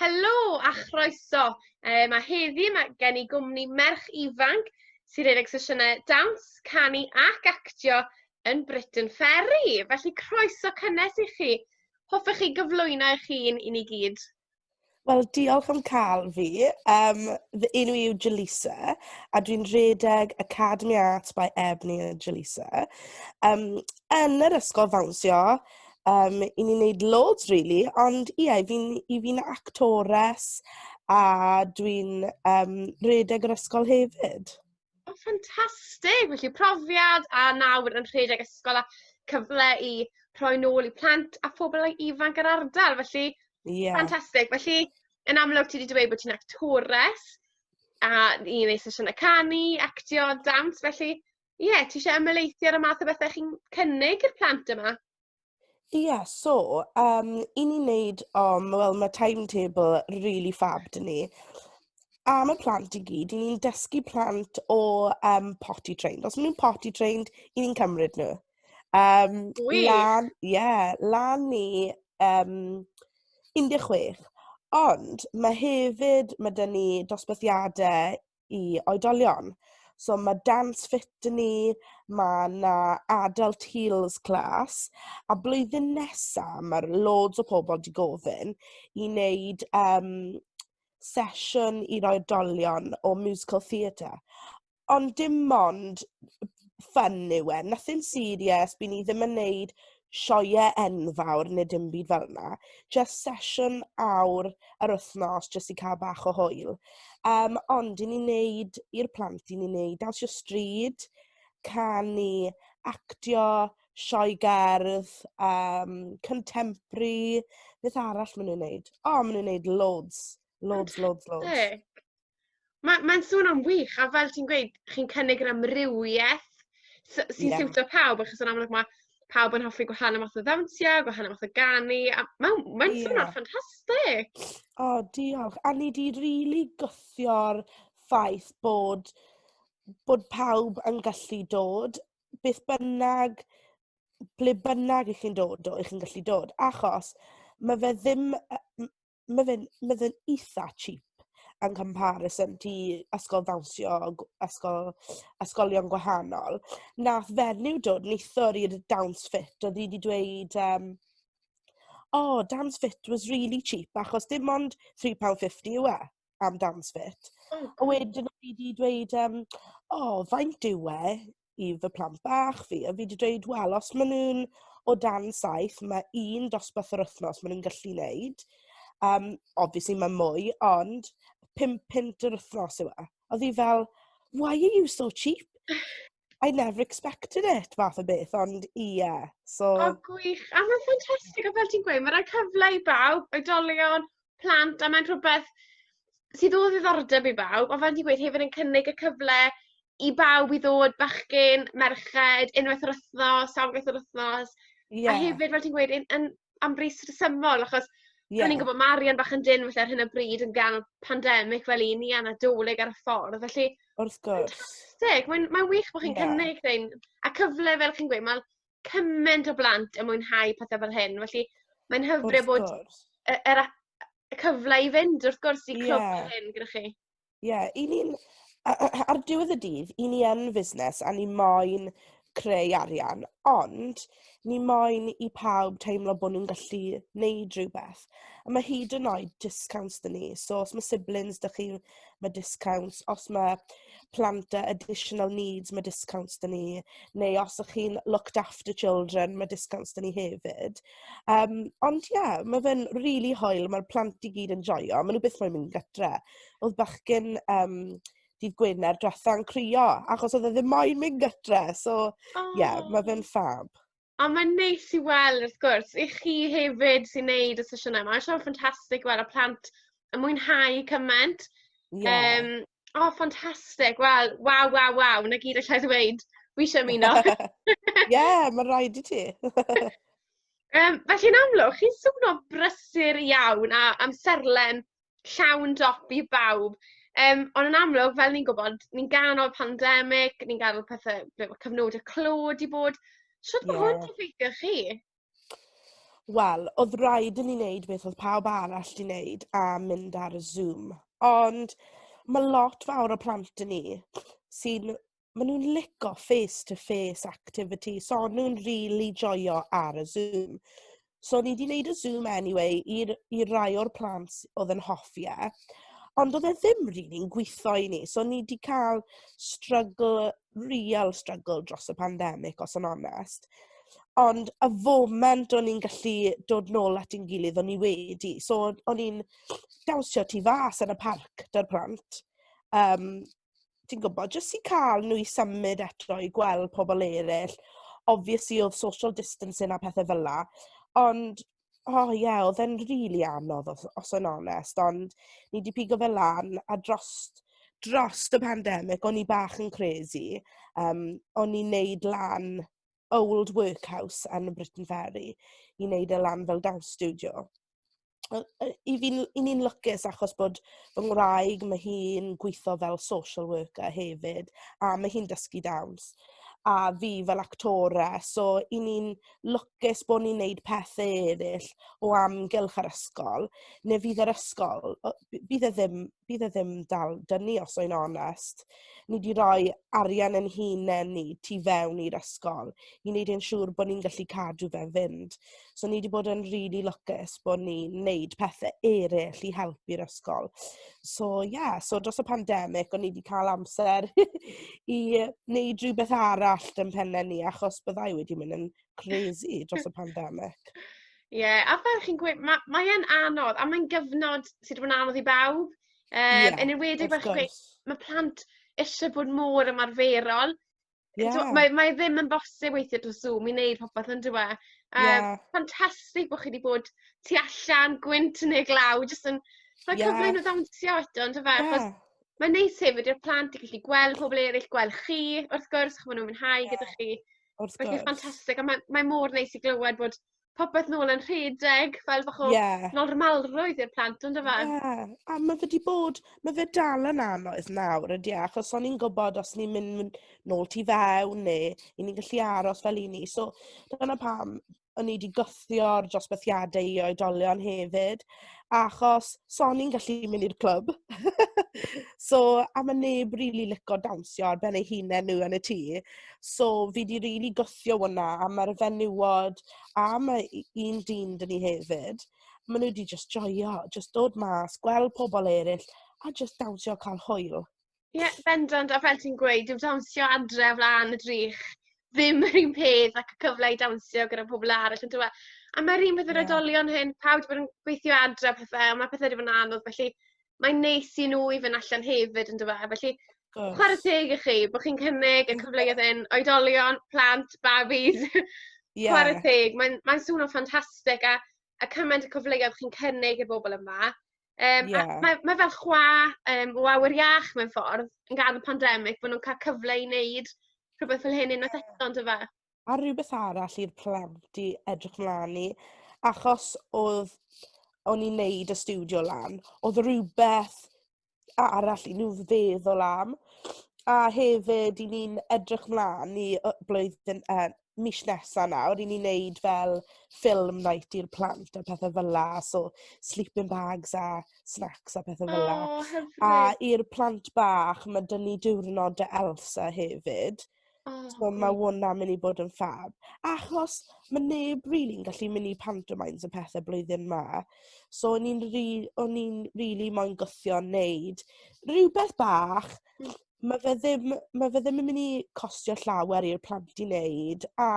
Helo a chroeso. Um, a heddi mae gen i gwmni merch ifanc sy'n rhedeg sesiynau dawns, canu ac actio yn Britain Ferry. Felly croeso cynnes i chi. Hoffech chi gyflwyno eich hun i ni gyd? Wel, diolch am cael fi. Um, fy enw i yw Jaleesa, a dwi'n rhedeg Academy Arts by Ebony a Jaleesa. Um, yn yr ysgol fawnsio, Yym, 'y ni'n wneud loads rili, ond ie, 'y fi'n 'y fi'n actores a dwi'n yym rhedeg yr ysgol hefyd. O ffantastig! Felly profiad a nawr yn rhedeg ysgol a cyfle i rhoi nôl i plant a phobl ei ifanc yr ardal, felly yeah. ffantastig. Felly, yn amlwg ti wedi dweud bod ti'n actores a ni'n ei sesiynau canu, actio, dawns, felly Ie, ti eisiau ymwneithio ar y math o bethau chi'n cynnig i'r plant yma? Ie, yeah, so, um, i ni wneud, um, wel, mae timetable really fab dyn ni. Am y plant i gyd, i ni'n dysgu plant o um, potty trained. Os maen nhw'n potty trained, i ni'n cymryd nhw. Um, Wy! Lan, ie, yeah, lan ni um, 16. Ond mae hefyd, mae dyn ni dosbarthiadau i oedolion. So mae Dance Fit 'da ni, mae 'na Adult Heels Class a blwyddyn nesa mae loads o pobl 'di gofyn i wneud yym sesiwn i'r oedolion o musical theatre. Ond dim ond ffun yw e, nothing serious, by' ni ddim yn wneud sioeau enfawr neu dim byd fel 'na. Jyst sesiwn awr yr wythnos jyst i cael bach o hwyl. Yym, ond 'yn ni'n wneud, i'r plant, 'yn ni'n wneud dawnsio stryd, canu, actio, sioe gerdd, yym, contemporary, beth arall maen nhw'n wneud? O, maen nhw'n wneud loads, loads, loads, loads. Mae, mae'n swnio'n wych, a fel ti'n gweud, chi'n cynnig yr amrywiaeth sy'n yeah. siwtio pawb, achos yn amlwg mae pawb yn hoffi gwahanol math o ddawnsiau, gwahanol math o ganu, a mae'n ma yeah. swnio'n ffantastig. O, oh, diolch. A ni di rili really gwythio'r ffaith bod, bod pawb yn gallu dod, beth bynnag, ble bynnag i chi'n dod o, i chi'n gallu dod, achos mae fe ddim, mae fe'n mae fe'n eitha cheap yn comparison to ysgol ddawnsio g- ysgol ysgolion gwahanol. Wnaeth fenyw dod neithiwr i'r Dance Fit, oedd hi 'di dweud yym "Oh, Dance Fit was really cheap" achos dim ond three pound fifty yw e am Dance Fit. A wedyn oedd hi 'di dweud yym "Oh, faint yw e?" i fy plant bach fi, a fi 'di dweud, wel, os maen nhw'n o dan saith, mae un dosbarth yr wythnos maen nhw'n gallu wneud. Um, obviously, mae mwy, ond pimp pint yr wythnos yw e. Oedd hi fel, why are you so cheap? I never expected it, fath o beth, ond ie. Yeah, so... O, gwych. A mae'n ffantastig, o fel ti'n gweud, mae'n rhaid cyfle i bawb, oedolion, plant a mae'n rhwbeth sydd o ddiddordeb i bawb on' fel ti'n gweud hefyd yn cynnig y cyfle i bawb i ddod bachgyn merched unwaith yr wthnos sawl gwaith yr wthnos. Ie. A hefyd fel ti'n gweud yn yn am bris rhesymol achos... Ie. ...o'n i'n gwbo ma' arian bach yn dynn falle ar hyn o bryd yn ganol pandemic fel 'yn ni a Nadolig ar y ffordd felly... Wrth gwrs. ...fantastic mae'n mae'n wych bo' chi'n cynnig rhein a cyfle fel chi'n gweud ma' cyment o blant yn mwynhau pethe fel hyn, felly mae'n hyfryd bod y, yr, y cyfle i fynd, wrth gwrs, i clwb yeah. hyn gyda chi. Ie, yeah, i ni'n... Ar diwedd y dydd, i ni yn fusnes a ni moyn creu arian, ond ni moyn i pawb teimlo bod nhw'n gallu neud rhywbeth. A mae hyd yn oed discounts dyn ni, so os mae siblings dych chi'n ma' discounts, os ma' plant â additional needs ma' discounts 'da ni, neu os y'ch chi'n looked after children ma' discounts 'da ni hefyd. Yym ond ie ma' fe'n rili hwyl ma'r plant i gyd yn joio ma' nhw byth mo'yn mynd gatre. O'dd bachgyn yym dydd Gwener dwetha yn crio achos o'dd e ddim mo'yn mynd gatre so... Aww. ...ie ma' fe'n ffab. A mae'n neis i weld wrth gwrs i chi hefyd sy'n neud y sesiynau yma. Mae'n siŵr ffantastig weld y plant yn mwynhau cymaint. Ie. Um, o, oh, ffantastig. Wel, waw, waw, waw. Na gyd allai ddweud. Wi eisiau ymuno. Ie, yeah, mae'n rhaid i ti. um, felly yn amlwg, chi'n swnio brysur iawn a amserlen llawn dop i bawb yym on' yn amlwg fel ni'n gwbod ni'n ganol pandemic ni'n gadel pethe fel ma' cyfnode clo 'di bod shwt ma' hwn 'di effeithio chi? Wel odd raid i ni neud beth odd pawb arall 'di neud a mynd ar y Zoom ond ma' lot fawr o plant 'da ni sy'n maen nhw'n lico face-to-face activity, so o'n nhw'n rili joio ar y Zoom. So ni wedi wneud y Zoom anyway i'r i rai o'r plant oedd yn hoffi e. Ond oedd e ddim rili'n gweithio i ni, so ni wedi cael struggle, real struggle dros y pandemig os yn onest. Ond y foment o'n i'n gallu dod nôl at ein gilydd o'n i wedi. So o'n i'n dawnsio tu fas yn y parc 'da'r plant. Um, ti'n gwybod, jyst i cael nhw i symud eto i gweld pobl eraill. Obviously, oedd social distancing a pethau fel 'na, ond, o ie, oedd e'n rili anodd, os os sa i'n onest, ond ni 'di pigo fe lan, a drost drost y pandemig, o'n i bach yn crazy, yym, o'n i'n wneud lan... old workhouse yn y Briton Ferry i wneud e lan fel dance studio. Wel, yy, i fi'n i ni'n lwcus achos bod fy ngwraig, mae hi'n gweithio fel social worker hefyd, a mae hi'n dysgu dawns, a fi fel actora, so i ni'n lwcus bod ni'n neud pethau eraill o amgylch yr ysgol, neu fydd yr ysgol, bydd e ddim bydd e ddim dal 'da ni os o'n i'n onest. Ni 'di roi arian ein hunain ni tu fewn i'r ysgol i wneud yn siŵr bod ni'n gallu cadw fe'n fynd. So ni 'di bod yn rili lwcus bod ni'n wneud pethe eraill i helpu'r ysgol. So ie, yeah, so dros y pandemig o'n ni 'di cael amser i wneud rhywbeth arall yn penne ni achos byddai wedi mynd yn crazy dros y pandemic. Ie, yeah, a fel chi'n gweud, mae ma e'n anodd, a mae'n gyfnod sydd wedi anodd i bawb. Um, yeah, yn enwedig fel chi'n gweud, mae plant eisiau bod mor ymarferol. Yeah. So, mae, mae ddim yn bosib weithio dros Zoom i wneud popeth yn dweud. Um, yeah. Fantastig bod chi wedi bod tu allan, gwynt yn ei glaw, jyst yn... Mae'n yeah. cyfle nhw ddawnsio eto, yn dweud. Yeah. Mae'n neis hefyd i'r plant i gallu gweld pobl eraill, gweld chi, wrth gwrs, chymryd nhw'n mwynhau yeah. gyda chi. Wrth gwrs. Mae hi'n ffantastig a mae mae mor neis i glywed bod popeth nôl yn rhedeg fel bach o... Ie. ...normalrwydd i'r plant on'd yfe? Ie a ma' fe 'di bod ma' fe dal yn anodd nawr on'd yw e achos o'n ni'n gwbod os ni'n mynd nôl tu fewn neu 'yn ni'n gallu aros fel 'yn ni so dyna pam o'n i 'di gwthio'r dosbarthiadau i oedolion hefyd, achos so o'n i'n gallu mynd i'r clwb. So, a ma' neb rili lico dawnsio ar ben eu hunain nhw yn y tŷ. So, fi 'di rili gwthio hwnna, a ma'r fenywod a ma' u- un dyn 'da ni hefyd, maen nhw 'di jyst joio, jyst dod mas, gweld pobl eraill, a jyst dawnsio a cael hwyl. Ie, bendant, a fel ti'n gweud, dyw dawnsio adre o flaen y drych ddim yr un peth ac y cyfle i dawnsio gyda pobl arall yndyw e? A ma'r un fath yr oedolion hyn, pawb 'di bod yn gweithio adre a pethe, a ma' pethe 'di bod yn anodd, felly mae'n neis i nhw i fynd allan hefyd yndyw e? Felly chware teg i chi bod chi'n cynnig y cyfleoedd hyn, oedolion, plant, babis. Ie. Chware teg, mae'n mae swnio'n ffantastig a a cymaint o cyfleoedd chi'n cynnig i bobl yma. Yym... Ie. ...a mae mae fel chwa yym o awyr iach mewn ffordd yn ga'l y pandemic bo' nw'n ca'l cyfle i neud rhwbeth fel hyn unwaith eto on'd yfe? A rhywbeth arall i'r plant i edrych mlan i achos odd o'n i'n neud y stiwdio lan odd rywbeth arall i nw feddwl am a hefyd 'yn ni'n edrych mlan i yy blwyddyn yy mis nesa nawr, 'yn ni'n neud fel film night i'r plant a pethe fel 'a, so sleeping bags a snacks a pethe fel 'a. O, hyfryd. A i'r plant bach, ma' 'da ni diwrnod Dy Elsa hefyd. O, gwych. So ma' hwnna myn' i bod yn ffab. Achos ma' neb rili'n gallu myn' i pantomimes a pethe blwyddyn 'ma, so o'n i'n ri- o'n i'n rili moyn gwthio neud rhywbeth bach... Mae fe ddim mae fe ddim yn mynd i costio llawer i'r plant i wneud a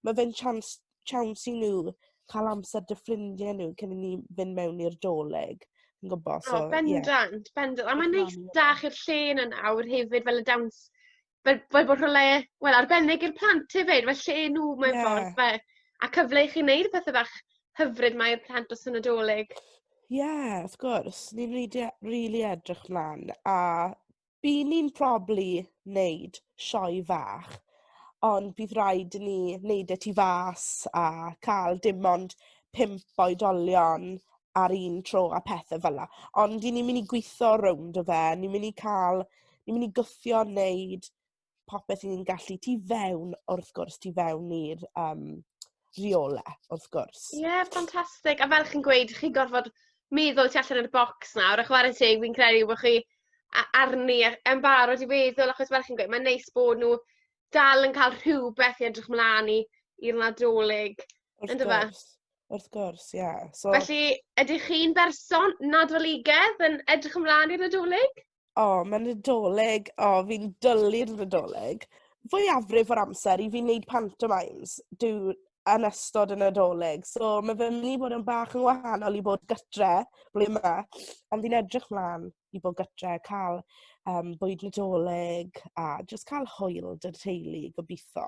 mae fe'n chance chance i nhw cael amser 'da ffrindiau nhw cyn i ni fynd mewn i'r 'Dolig ti'n gwybod so ie... O bendant bendant a mae'n neis 'da chi'r lle yna nawr hefyd fel y dawns fel fel bod rhywle wel arbennig i'r plant hefyd fel lle nhw mewn ffordd... ie ...fe- a cyfle i chi wneud y pethe bach hyfryd mae Plant dros y Nadolig. Ie, yeah, wrth gwrs. Ni'n rili e- rili edrych mlaen a bydd ni'n probably wneud sioe fach ond bydd rhaid i ni wneud e tu fas a cael dim ond pump oedolion ar un tro a pethau fel la. Ond 'yn ni'n mynd i gweithio rownd o fe, ni'n mynd i cael... ni'n mynd i gwthio wneud popeth i ni'n gallu tu fewn wrth gwrs tu fewn i'r yym rheole wrth gwrs. Ie yeah, ffantastig a fel chi'n gweud chi'n gorfod meddwl tu allan o'r bocs nawr a chware teg fi'n credu bo' chi a- arni a- yn barod i feddwl achos fel chi'n gweud mae'n neis bod nhw dal yn cael rhywbeth i edrych mlan i i'r Nadolig Wrth yndyfe? gwrs. Wrth gwrs ie so... Felly ydych chi'n berson Nadoligedd yn edrych ymlan i'r Nadolig? O, mae Nadolig... O, fi'n dwlu'r Nadolig. Fwyafrif o'r amser, 'y fi'n wneud pantomimes dw- yn ystod y Nadolig. So, mae fe'n mynd i fod yn bach yn wahanol i bod gytre blwyddyn 'ma. Ond fi'n edrych 'mlaen i bod gytre, cael, yym, bwyd Nadolig a jyst cael hwyl 'da teulu, gobeithio.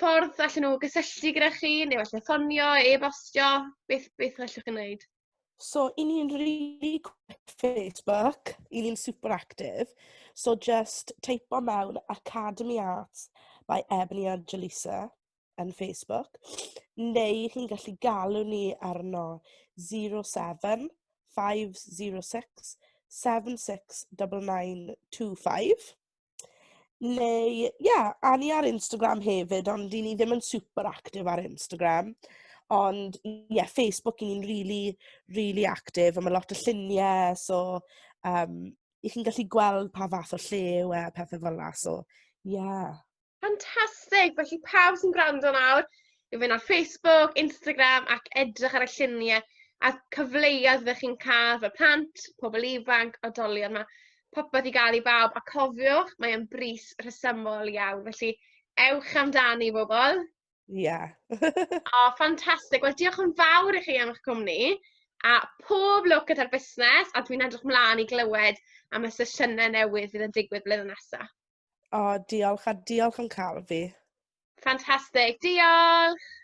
ffordd allan n'w gysylltu gyda chi neu falle ffonio e-bostio beth beth allwch chi neud? So i ni'n rili Facebook i ni'n super active so jyst teipo mewn Academi Arts by Ebony a Jaleesa yn Facebook neu chi'n gallu galw ni arno 07 506 769925. Neu ie, a ni ar Instagram hefyd, ond 'y ni ddim yn super active ar Instagram. Ond ie, Facebook 'y ni'n rili, rili active a ma' lot o lluniau, so yym 'y chi'n gallu gweld pa fath o lle yw e a pethe fel 'na, so ie. Fantastic! Felly pawb sy'n gwrando nawr, i fynd ar Facebook, Instagram ac edrych ar y lluniau a'r cyfleoedd fe chi'n cael fel plant, pobl ifanc, odolion yma. Popeth i gael i bawb a cofiwch, mae'n bris rhesymol iawn. Felly, ewch amdani bobl. Ie. Yeah. oh, ffantastig. Wel, diolch yn fawr i chi am eich cwmni a pob lwc gyda'r busnes a dwi'n edrych mlaen i glywed am y sesiynau newydd fydd yn digwydd blynedd nesaf. O, diolch, a diolch am cael fi. Fantastic, diolch!